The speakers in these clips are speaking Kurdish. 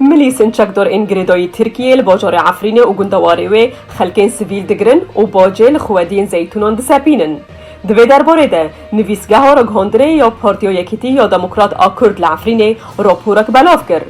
Milî Sinçakdor ên girêdayî Tirkiyeyê li bajarê Efrînê û gundewarê wê xelkên sivîl digirin û bacê li xwediyên zeytûnan disepînin. Di vê derbarê de nivîsgeha ragihandinê ya Partiya Yekîtî ya Demokrat a Kurd li Efrînê raporek belav kir.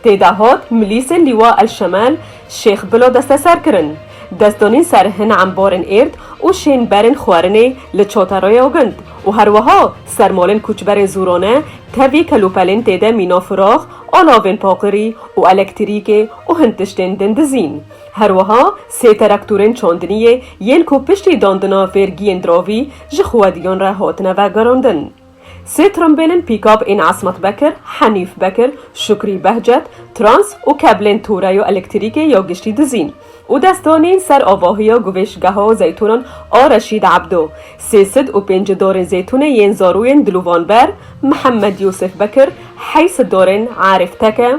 Tê de hat milîsên Lîwa El Şemel Şêx Bila desteser kirin. Dest danîn ser hin embarên êrd û şên berên xwerinê li Çaterreya Gund û herweha ser malên koçberên Zûrane, Tevî kelûpelên tê de mîna firax a navên paqirî û elektrîkê û hin tiştên din dizîn. Her wiha sê teraktorên çandiniyê yên ku piştî dandina vêrgiyên diravî ji xwediyan re hatine vegerandin. Sê trimbêlên pîkab ên Esmet Bekir, Henîf Bekir, Şukrî Behcet, Trans û keblên toreya elektrîkê ya giştî dizîn. û dest danîn ser avahiya guvêşgeha zeytûnan a Reşîd Ebdo, sê sid û pêncî darên zeytûnê yên zarûyên Dilûvanber, Mihemed Yûsif Bekir, heyî sid darên Arîf Teke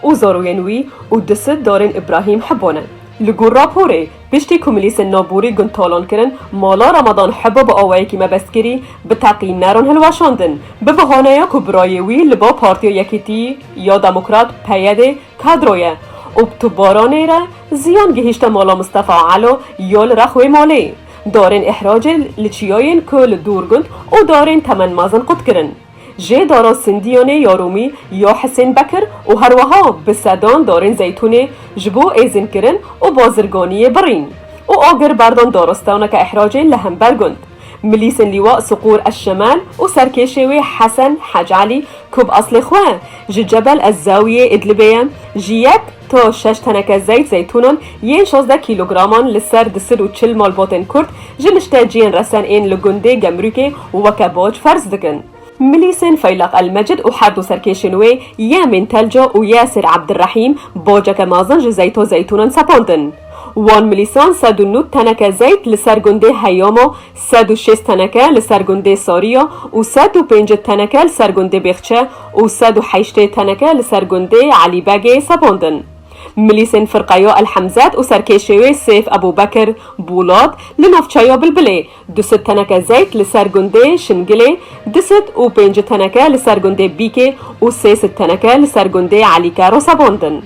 û zarûyên wî û du sid darên Îbrahîm Hibo ne. Li gor raporê, piştî ku milîsên navborî gund talan kirin, mala Ramadan Hibo bi awayekî mebest kirî, bi teqî neron hilweşandin, bi bihaneya ku birayê wî li ba Partiya Yekîtî ya Demokrat, PYDê, Kadroye û bi tu baranê re ziyan gihîşte mala Mistefa Elo ya li rex wê malê. Darên îhracê li çiyayên ku li Dûrgund û darên temen mezin qut kirin. Jê dara Sindiyanê ya Rûmî ya Hisên Bekir û herweha bi sedan darên zeytûnê ji bo êzînkirin û bazirganiyê birîn û agir berdan daristaneke îhracê li hember gund. Milîsên Lîwa Siqûr Eşşemal û serkêşê wê Hesen Hac Elî ku bi aslê xwe ji Cebel Ez-Zawiyê Îdlibê ye, ji yek ta şeş teneke zeyt zeytûnan yên şazdeh kîlograman li ser du sed û çil malbatên Kurd ji nişteciyên resen ên li gundê Gemrûkê weke bac ferz dikin. Milîsên Feyleq El-Mecid û her du serkêşên wê Yemîn Telco û Yasir Abdirehîm boceke mezin ji Zeyto Zeytûnan sepandi'n. Wan milîsan sed û nûd teneke zeyt li ser gundê Heyamo, sed û şêst teneke li ser gundê Sariya û sed û pêncid teneke li ser gundê Bêxçe û sed û heştê teneke li ser gundê Elîbegê sepandin. Milîsên Firqeya El-Hemzet û serkêşê wê Sêf Ebûbekir, Bûlat, li navçeya Bilbilê, Du sed teneke zeyt li ser gundê Şingilê, du sed û pêncî teneke li ser gundê Bîkê û sê sed teneke li ser gundê Elîke rosevandin.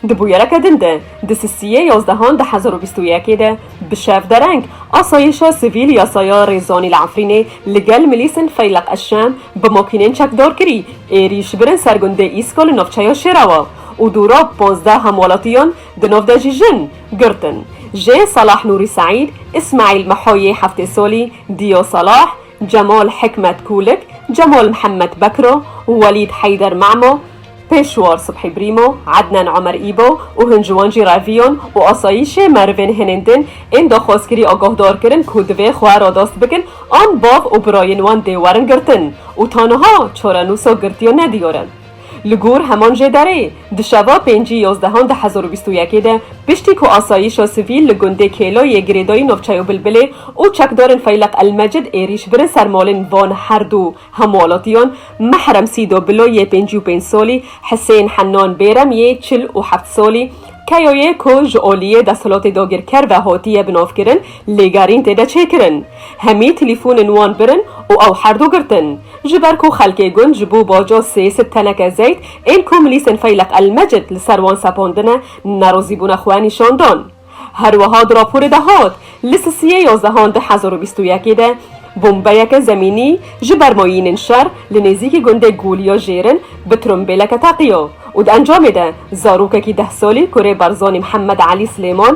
Di bûyereke din de, di sisiyê yazdehan du hezar û bîst û yekê de bi şev dereng asayîşa sivîl ya Saya Rêzanî li Efrînê li gel milîsên Feyleq Eşşem bi makînên çekdar kirî êrîş birin ser gundê Îsko li navçeya Şêrawa û dûra pazdeh hemwelatiyan Di nav de jî jin girtin. Jê Salah Nûrî Seîd, Îsmaîl Mihoyê Heftêsolî, Dîyo Salah, Cemal Hikmet Kûlik, Cemal Mihemed Bekro, Welîd Heyder Memo, Pêşwar Subhî Brîmo, Ednan Omer Îbo û hin ji wan jî reviyan û asayîşê merivên hinên din ên daxwazkirî agahdar kirin ku divê xwe radest bikin an bav û birayên wan dê werin girtin û ta niha çarenûsa girtiya nediyar e. Li gor heman jê dereyê, di şeva pêncî yozdehan du hezar û bîst û yekê de piştî ku asayîşa sivîl li gundê Kêlay yê girêdayî navçeya Bilbilê û çekdarên Feyleq El Mecid êrîş birin ser malên van her du hemwelatiyan, Mehrem Sîdo Bilo yê pêncî û pênc salî, Hisên Hennan Bêrem yê çil û heft salî, Keyayê ku ji aliyê desthilatê dagirker ve hatiye binavkirin, Lêgerîn têde çêkirin. Hemî telîfonên wan birin û ew herdu girtin. Ji ber ku xelkê gund ji bo baca sê sed teneke zeyt ên ku milîsên Feyleq El-Mecid li ser wan sepandine, nerozîbûna xwe nîşan dan. Her wiha di raporê de hat, Li Sisiyê yazehan du hezar û bîst û yekê de bombeyeke zemînî ji ber mayînên şer li nêzîkî gundê Goliya Jêrin bi trombêleke teqiya û di encamê de zarokekî deh salî kurê Barzanî Mihemed Elî Silêman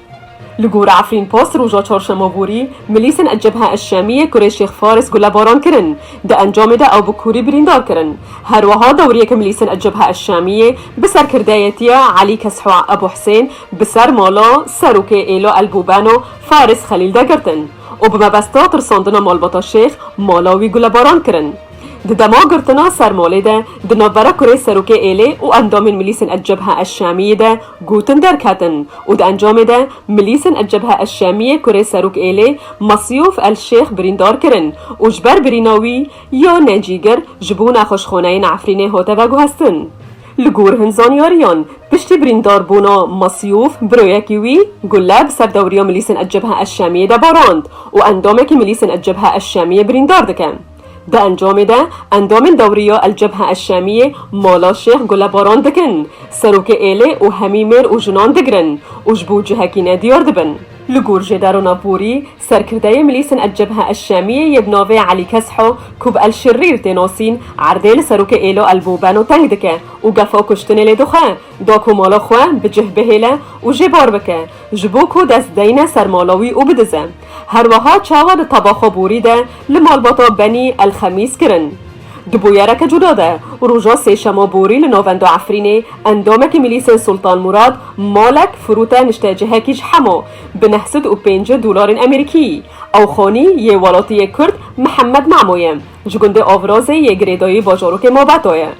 Li gora Efrînpost roja çarşema borî milîsên Cebhe Eşşemiyê kurê Şêx Faris gulebaran kirin. Di encamê de ew bi kûrî birîndar kirin. Her wiha dewriyeke milîsên Cebhe Eşşemiyê bi serkirdeyetiya Elî Kesxwa Ebuhusên bi ser mala Serokê Êlo Elbûbeno Faris Xelîl de girtin û bi mebesta tirsandina malbata Şêx mala wî gulebaran kirin. Di dema girtina Sermolê de di navbera kurê Serokê Êlê û endamên Milîsên El-Cebha El-Şamiyê de gotin derketin û di encamê de Milîsên El-Cebha El-Şamiyê kurê Serok Êlê Masyouf El-Şêx birîndar kirin û ji ber birîna wî ya necîgir ji bo nexweşxaneyê li Efrînê hate veguhestin. Li gor hin zanyariyan, piştî birîndarbûna Masyouf biroyekî wî gule bi ser dewriya Milîsên El-Cebha El-Şamiyê de barand û endamekî Milîsên El-Cebha El-Şamiyê birîndar dike. Di encamê de endamên dewriya El Cebhe El Şamiyê mala Şêx gulebaran dikin, serokê êlê û hemî mêr û jinan digirin û ji bo cihekî ne diyar dibin. Li gor jê derona borî, serkirdeyê milîsên El Cebhe El Şamiyê yê bi navê Elî Kesho ku bi El Şirrîr tê nasîn, erdê li serokê êlê El Bobeno teng dike û gefa kuştinê lê dixwe, da ku mala xwe bi cih bihêle û jê bar bike, ji bo ku dest deyne ser mala wî û bidize. Her weha çawa li tabaxa borî de li malbata Benî El Xemîs kirin. Di bûyereke cuda de roja sêşema borî li navenda Efrînê endamekî milîsên Sultan Murad malek firûte niştecihekî ji hema bi neh sed û pêncî dolarên Amerîkî. Ew xanî yê welatiyê Kurd Mihemed Memo ye, ji gundê Avrazê yê girêdayî bajarokê Mabeta ye.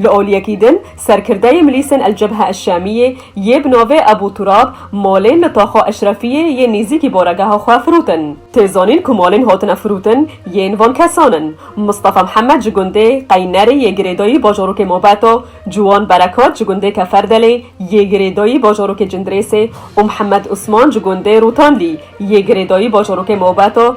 Li aliyekî din serkirdeyê milîsên El Cebhe El Şamiyê yê bi navê Ebû Turab malên li Taxa Eşrefiyê yên nêzîkî baregeha xwe firotin. Tê zanîn ku malên hatine firotin yên van kesan in. Mistefa Mihemed ji gundê Qeynerê yê girêdayî bajarokê Mobeta, Ciwan Berekat ji gundê Keferdelê yê girêdayî bajarokê Cindirêsê û Mihemed Osman ji gundê Rotanlî yê girêdayî bajarokê Mobeta,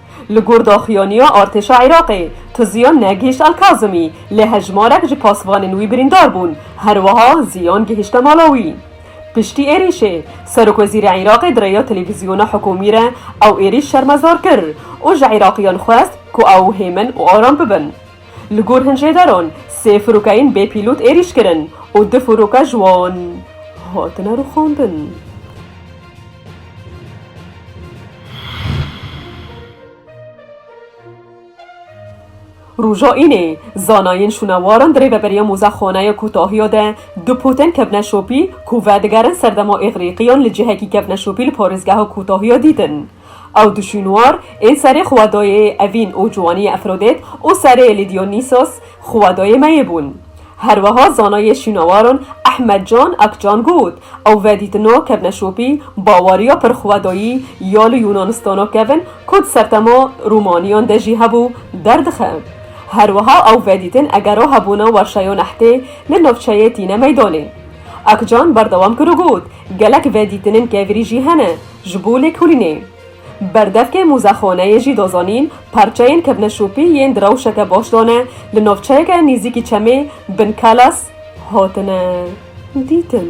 Li gor daxuyaniya artêşa Iraqê, Tiziya negihîşt Elkazimî, lê hejmarek ji pasvanên wî birîndar bûn, herwiha ziyan gihîşte mala wî. Piştî êrîşê, serokwezîrê Iraqê di rêya televîzyona hikûmî re ew êrîş şermezar kir û ji Iraqîyan xwest ku ew hêmin û aram bibin. Li gor hin jêderan sê firokeyên bê pîlot êrîş kirin û du firoke ji wan hatine rûxandin. Roja Înê, zanayên şûnewaran di rêveberiya mozexaneya kotahiya de du poten kevne şopî ku vedigerin serdema Îgrîqiyan li cihekî kevne şopî li parêzgeha kotahiya dîtin. Ew du şûnwar ên serê xwedayê Evîn û Ciwaniyê Efrodêt û serê Lîdiyonîsos xwedayê Meyê bûn. Herweha zanayê şûnawaran Ehmed Can Akcan got, Ew vedîtina kevneşopî bawariya pir xwedayî ya li Yûnanistana kevn ku di sertema Rûmaniyan de jî hebû, derdixe. Herweha ew vedîtin egera hebûna werşeya nehtê li navçeyê tîne meydanê. Akcan berdewam kir û got, Gelek vedîtinên kevirî jî hene, ji bo lêkolînê. Berdevkê mûzexoneyê jî dozanîn parçeyên kevne şopî yên di rewşeke baş de ne, li navçeyeke nîzîkî çemê Bin Kalas hatine dîtin.